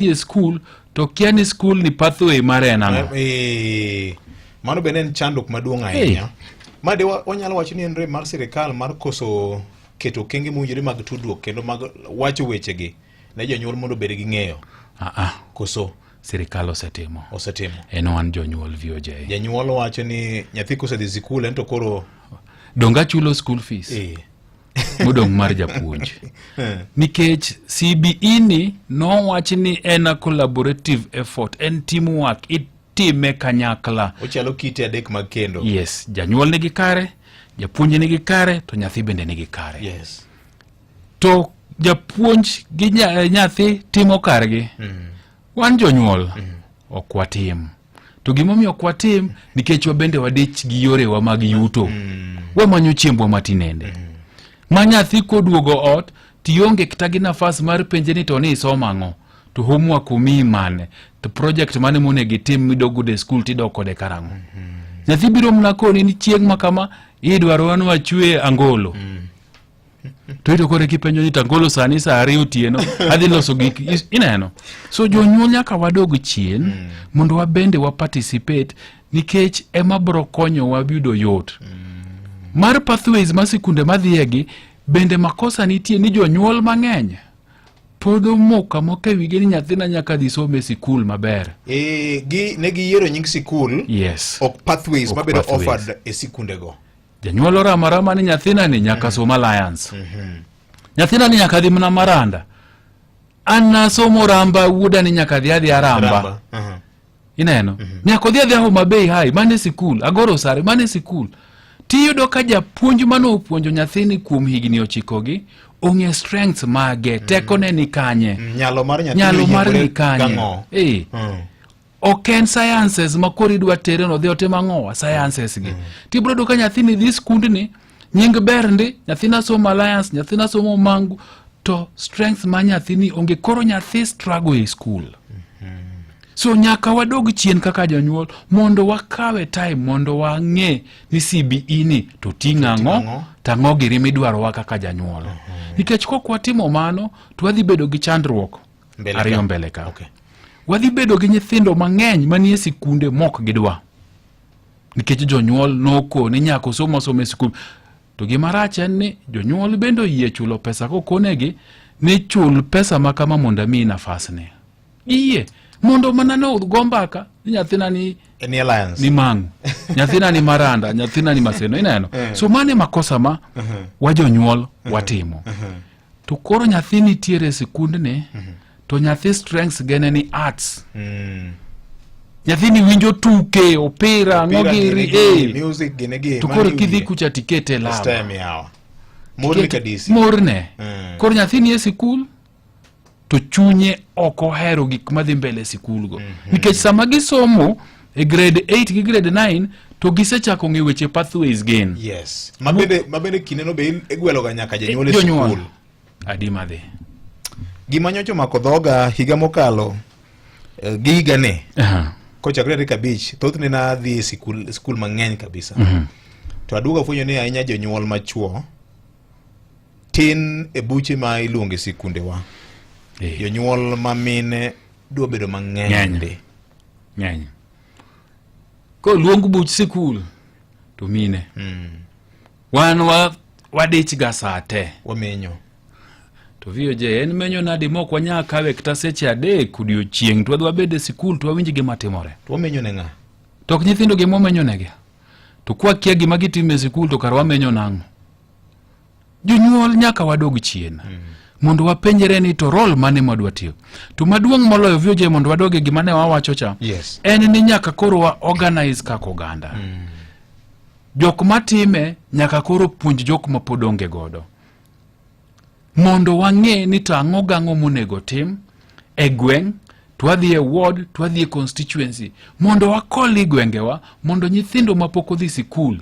e skul to kia ni skul ni pathway mare en ang'o Eh, mano bende en chandruok maduong' ahinya ma de wa- wanyalo wacho ni en rem mar sirikal mar koso keto okenge mowinjore mag tudruok kendo mag wacho wechegi ne jonyuol mondo obed gi ng'eyo Ah, ah, koso sirikal osetimo osetimo en wan jonyuol VOJ janyuol wacho ni nyathi kosedhi sikul en to koro donge achulo school fees eh, modong' mar japuonj eh. nikech CBE ni nowach ni en a collaborative effort en teamwork itime kanyakla ochalo kite adek mag kendo yes janyuol nigi kare japuonj nigi kare to nyathi bende nigi kare yes. to japuonj gi eh, nyathi timo kargi mm. wan jonyuol mm. ok watim to gimomiyo ok watim nikech wabende wadich gi yorewa mag yuto mm. wamanyo chiembwa matinende mm. ma nyathi koduogo ot tionge kata gi nafas mar penje ni to ni isoma ang'o to homework umii mane to project mane monego itim midogudo e skul tidok kode karang'o mm -hmm. nyathi biro mna koni ni chieng' ma kama idwarowa ni wachwe angolo mm. to ito koro kipenjo ni tagolo sani sa ariyo otieno adhi loso gik is- ineno so jonyuol nyaka wadog chien mondo wabende wa participate nikech ema bro konyowa yudo yot mar pathways ma sikunde madhiyegi bende makosa nitie ni jonyuol mang'eny pod omoka moka wige ni nyathina nyaka dhi some e sikul maber Eh, gi ne giyiero nying sikul yes ok pathways Ok mabedo pathways. offered e sikundego janyuol orama rama ni nyathina ni nyaka mm. som alliance mm-hmm. nyathina ni nyaka dhi mna maranda anasomo ramba wuoda ni nyaka dhi adhi aramba uh-huh. ineno mm-hmm. nyaka odhi adhi ahoma bei hai mane sikul agoro sare mane sikul tiyudo ka japuonj mane opuonjo nyathini kuom higni ochikogi ong'e strength mage mm. tekone ni kanye mm, nyalo mar ni kanye eh. mm. ok en sciences ma koro idwa tere no dhi otim ang'owa sciences gi mm. tibro yudo ka nyathini dhi skundni nying ber ndi nyathini asomo alliance nyathini asomo mangu to strength ma nyathini onge koro nyathi struggle e school mm-hmm. so nyaka wadog chien kaka jonyuol mondo wakawe time mondo wang'e ni cbe ni to ting' ang'o tang'o giri midwarowa kaka janyuol mm-hmm. nikech kok watimo mano to wadhi bedo gi chandruok ariyo mbele ka okay. wadhi bedo gi nyithindo mang'eny manie sikunde mok gidwa nikech jonyuol noko ni nyako somo somo e sikul to gima rach en ni jonyuol bende oyie chulo pesa kokonegi ni chul pesa ma kama mondo amiyi nafasni iyie mondo mana ne go mbaka ni nyathina ni ni mang'u nyathina ni maranda nyathina ni maseno ineno eh. so mane makosa ma uh-huh. wa jonyuol uh-huh. watimo uh-huh. to koro nyathi nitiere e sikundni mm -hmm. to nyathi strengths gene ni arts mm. nyathini winjo tuke opira ang'o giri eh. to koro kidhi kucha tikete lawa morne mm. koro nyathini e sikul to chunye ok ohero gik madhi mbele e sikulgo mm -hmm. nikech sama gisomo e grade 8 gi grade 9 to gisechako ng'e weche pathways gen yes. mabende mabende kindeno be igweloga nyaka jonyuol e sikul adi madhi gima nyocho mako dhoga higa mokalo uh, eh, gi higane uh -huh. kochakre tarik abich thothne nadhi e sikul, sikul mang'eny kabisa uh mhm. -huh. to aduogo afwenyo ni ahinya jonyuol machuo tin e buche ma iluonge sikundewa eh. jonyuol ma mine dwa bedo mang'eny be ng'eny koluong buch sikul to mine mm. wan wa wadich ga saa te wamenyo to VOJ en menyo nadi mok wanya kawe kata seche adek odiochieng' to wadwa bede sikul to wawinj gima timore to wamenyo ne ng'a to ok nyithindo gima wamenyo negi to kwa kia gima gitimo e sikul to kar wamenyo nang'o jonyuol nyaka wadog chien mm -hmm. mondo wapenjre ni to rol mane mwadwa tiyo to maduong' moloyo vioje mondo wadoge gima ne wawacho cha yes. en ni nyaka koro wa organize kaka oganda mm -hmm. jok matime nyaka koro puonj jok mapod onge godo Mondo wang'e ni to ang'o gang'o monego tim e gweng' to wadhi e ward to wadhi e constituency mondo wakoli gwengewa mondo nyithindo mapok odhi sikul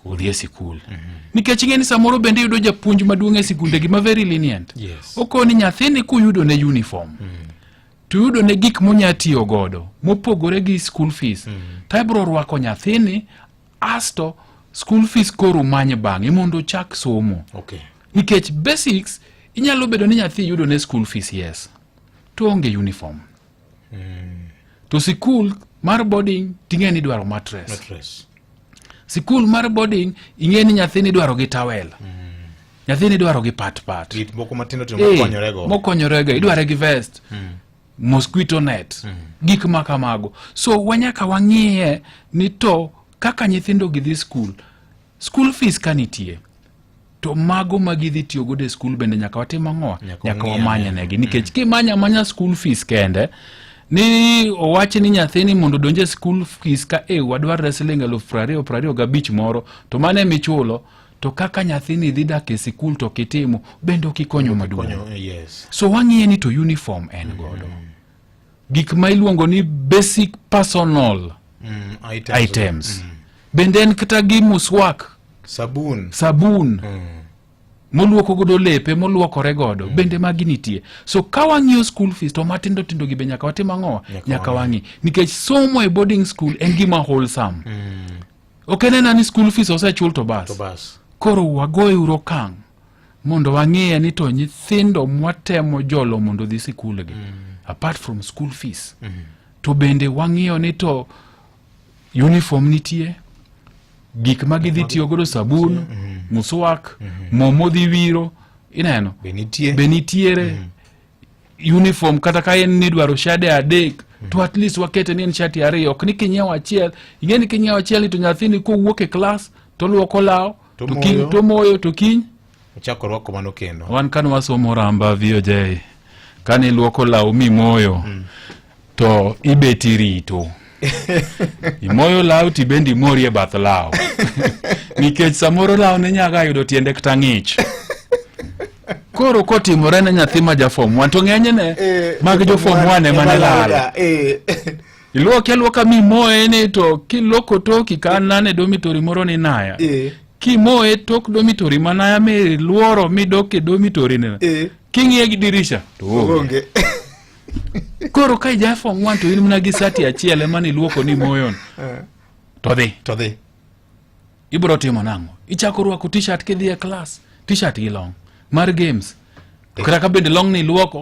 odhi e sikul mhm. nikech ing'e ni samoro bende yudo japuonj maduong' e sikunde gi ma very lenient okoni nyathini kuyudo ne uniform mm. to yudo ne gik monya tiyo godo mopogore gi school fees mm. to ibro rwako nyathini asto school fees koro manye bang'e mondo ochak somo okay. nikech basics inyalo bedo ni nyathi yudo ne school fees yes to onge uniform mm. to sikul mar boarding ting'e ni dwaro matres matres sikul mar boarding ing'e ni nyathi ni dwaro gi tawel mm. nyathi ni dwaro gi patpat moko matindotindo mokonyorego mokonyorego idware gi vest mm. mosquito net mm. gik ma kamago so wanyaka wang'iye ni to kaka nyithindo gidhi skul skul fees ka nitie to mago ma gidhi tiyo godo e skul bende nyaka watim ang'owa nyaka wamanya negi nikech mm. kimanya amanya skul fees kende ni owachi ni nyathini mondo donje e skul fees ka e wadwarre siling' elufu prariyo prariyo gabich moro to mano emichulo to kaka nyathini dhi dak e sikul to kitimo bende okikonyo maduong yes. so wang'iye ni to uniform en mm. godo mm. gik ma iluongo ni basic personal mm, items, items. Mm. bende en kata gi muswak sabun, sabun. Mm moluoko godo lepe moluokore godo mm. bende magi nitie so ka wang'iyo school fees to matindo tindo gi be nyaka watim ang'owa nyaka wang'i nikech somo e boarding school en gima wholesome mm. ok en ena ni school fees osechul to bas koro wagoye uru okang' mondo wang'eye ni to nyithindo mwatemo jolo mondo dhi sikulgi mm. apart from school fees mm. to bende wang'iyo ni to uniform nitie gik ma gidhi tiyo godo sabun mm. muswak mm-hmm. mo modhi wiro ineno be nitiere mm. uniform kata ka en ni idwaro shade adek mm. to at least wakete ni en shati ariyo ok ni kinyiewo achiel ing'e ni kinyiewo achiel ni to nyathini kowuok e klas toluoko law tomoyo to kiny ochako rwako mano kendo wan kane wasomo ramba voj kane iluoko law mimoyo mm. to ibet irito imoyo law tibendi imori e bath law nikech samoro law ne nyaga yudo tiende kata ng'ich koro kotimore ne nyathi ma jafom wan to ng'enyne Eh, mag jofom wan ema ne lal Eh. iluoke aluoka mimoye ni to kiloko toki ka nane domitori moro ni naya Eh. kimoye tok domitori manaya miluoro midok e domitori ni Eh. king'iye gi dirisha to onge. Onge. koro ka ija form one to in mana gi sati achiel ema niluoko ni moyon eh. to dhi to dhi ibiro timo nang'o ichako rwako t-shirt kidhi e klas t-shirt gi long mar games eh. kata ka bende long ni iluoko